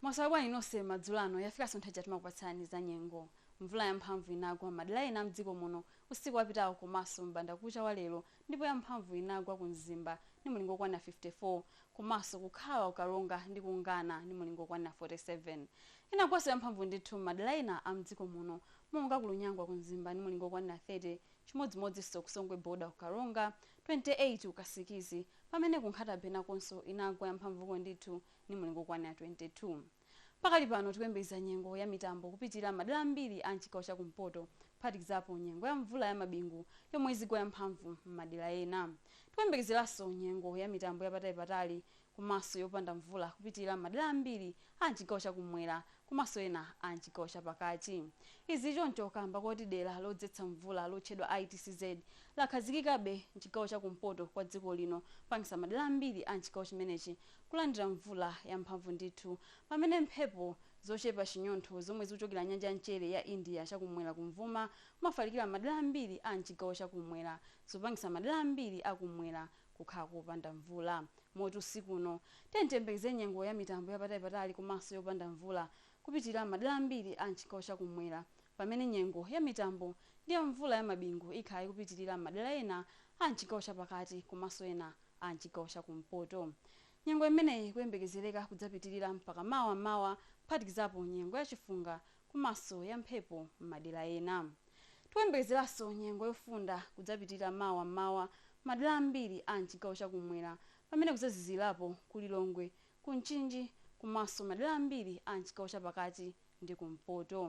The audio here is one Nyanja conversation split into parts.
mwaswera bwanji nonse madzulo ano yafikanso nthawi yoti timakupatsani za nyengo mvula yamphamvu inagwa madera ena mdziko muno usiku wapitawo komanso mbanda kucha wa lero ndipo yamphamvu inagwa ku mzimba ndi mulingo okwana 54 komanso ku Khawa ku Karonga ndi ku Ngana ndi mulingo okwana 47 inagwanso yamphamvu ndithu madera ena a mdziko muno monga ku Lunyangwa ku mzimba ndi mulingo okwana 30 Chimodzimodzinso ku Songwe border ku Karonga, 28 ku Kasikizi, pamene ku Nkhata-bay nakonso inagwa yamphamvuko ndithu ndi mulingo wokwanira 22. Pakali pano tikuyembekeza nyengo ya mitambo kupitilira madera ambiri a m'chigawo cha kumpoto kuphatikizapo nyengo ya mvula ya mabingu yomwe izigwa yamphamvu m'madera ena. Tikuyembekezeranso nyengo ya mitambo yapatali-patali komanso yopanda mvula kupitilira m'madera ambiri a m'chigawo cha kum'mwera komanso ena a m'chigawo cha pakati. Izi zichoncho kaamba koti dera lodzetsa mvula lotchedwa ITCZ lakhazikikabe m'chigawo cha kumpoto kwa dziko lino kupangisa madera ambiri a m'chigawo chimenechi kulandira mvula ya mphamvu ndithu pamene mphepo zochepa chinyontho zomwe zikuchokera nyanja ya mchere ya India cha kum'mwera kumvuma kumafalikira m'madera ambiri a m'chigawo cha kum'mwera zikupangisa madera ambiri a kum'mwera kukhala kopanda mvula. Moti usiku uno, tiyeni tiyembekeze nyengo ya mitambo yapatali patali komanso yopanda mvula kupitilira m'madera ambiri a m'chigawo cha kum'mwera pamene nyengo ya mitambo ndi ya mvula ya mabingu ikhala ikupitilira m'madera ena a m'chigawo cha pakati komanso ena a m'chigawo cha kumpoto. Nyengo imeneyi ikuyembekezereka kudzapitilira mpaka mawa m'mawa kuphatikizapo nyengo ya chifunga komanso ya mphepo m'madera ena. Tikuyembekezeranso nyengo yofunda kudzapitirira mawa m'mawa m'madera ambiri a m'chigawo cha kummwera pamene kudzazizirapo ku Lilongwe, ku Mchinji komanso m'madera ambiri a m'chigawo cha pakati ndi kumpoto.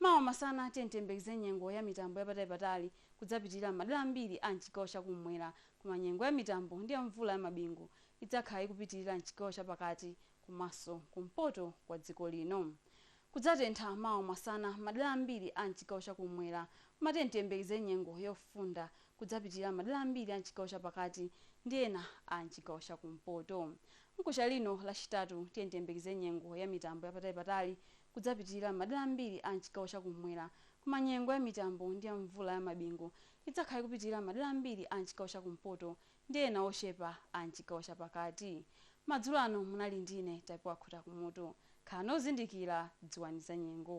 Mawa masana tiyeni tiyembekeze nyengo ya mitambo ya patalipatali kudzapitirira m'madera ambiri a m'chigawo cha kummwera koma nyengo ya mitambo ndi ya mvula ya mabingu idzakhala ikupitirira m'chigawo cha pakati komanso kumpoto kwa dziko lino. Kudzatentha mawa masana m'madera ambiri a m'chigawo cha kummwera. Koma tiyeni tiyembekeze nyengo yofunda. Kudzapitirira m'madera ambiri a m'chigawo cha pakati ndi ena a m'chigawo cha kumpoto. Mkuja lino Lachitatu tiyeni tiyembekeze nyengo ya mitambo ya patalipatali. Kudzapitirira m'madera ambiri a m'chigawo cha kummwera. Koma nyengo ya mitambo ndi ya mvula ya mabingu idzakhala ikupitirira m'madera ambiri a m'chigawo cha kumpoto ndi ena ochepa a m'chigawo chapakati. Madzulo ano munali ndi ine Tapiwa Khutakumutu. Khalani ozindikira, dziwani zanyengo.